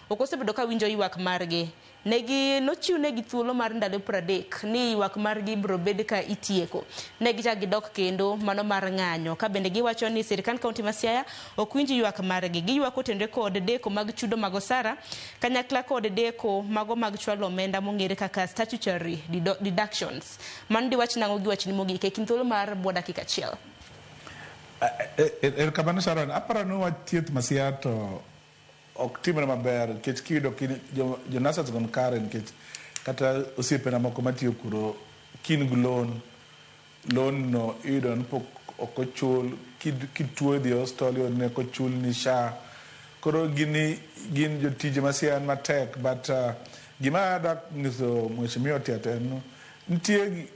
Ok osebedo ka winjo ywak margi. Ne gi, nochiwnegi thuolo mar ndalo pradek ni ywak margi ibiro bed ka itieko. Ne gichak gidok kendo, mano mar ng'anyo. Ka bende giwacho ni sirkand kaunti ma Siaya ok winj ywak margi. Giywak kotenore kod deko mag chudo mag osara kanyakla kod deko mago mag chwalo omenda mong'ere kaka statutory dido, deductions. Mano diwach nang'o gi wachni mogik e kind thuolo mar bwo dakika achiel? Erokamano Sharon. Aparo ni wach thieth ma Siaya to ok timre maber nikech kiyudo kin jo, jo nurses gon kare nikech kata osiepena moko matiyo kuro kin gi loan loan no iyudo ni pok ok ochul Kid- kituo idhi hospital iyudo ni ok ochul ni sha koro gini gin jotije masia en matek but uh, gima adak nyiso mheshimiwa tiat en nitie gi-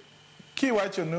kiwacho ni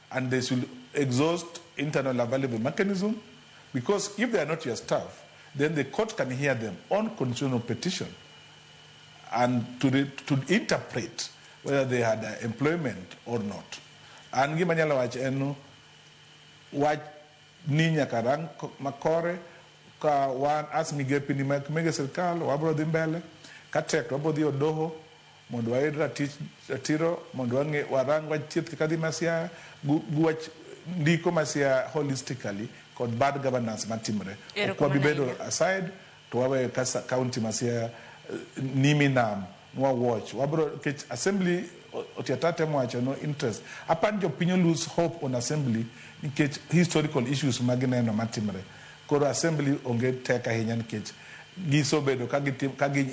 And they should exhaust internal available mechanism because if they are not your staff, then the court can hear them on constitutional petition and to, re, to interpret whether they had uh, employment or not. An gima nyalo wacho en wach ni nyaka rang ko- makore ka wan as migepi ni mag mege sirkal wabro dhi mbele ka tek wabro dhi odoho Mondo wayud ratich ratiro mondo wang'e warang wach thieth kaka dhi masia gu gu wach ndiko masia holistically kod bad governance matimre. Ok wabi bedo aside to waweyo ka county masia nimi nam nwa watch. Wabro kech assembly otiata temo wacho no interest. Apani jopiny o lose hope on assembly nikech historical issues ma gineno matimre. Koro assembly onge tek ahinya nikech gisobedo ka gitim ka gi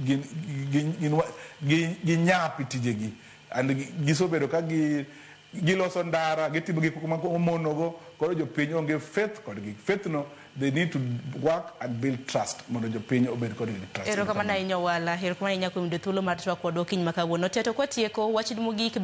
gin gin gin gi ginyapi tijegi and gisobedo ka gi giloso ndara gitimo gik ma omonogo koro jopiny onge faith kodgi faith no they need to work and build trust mondo jopiny obed kodgi gi trust Erokamano ahinya Owala. Erokamano ahinya kuom yudo thuolo mar twak kodwa okinyi ma kawuono. Teto kwatieko, wachni mogik bende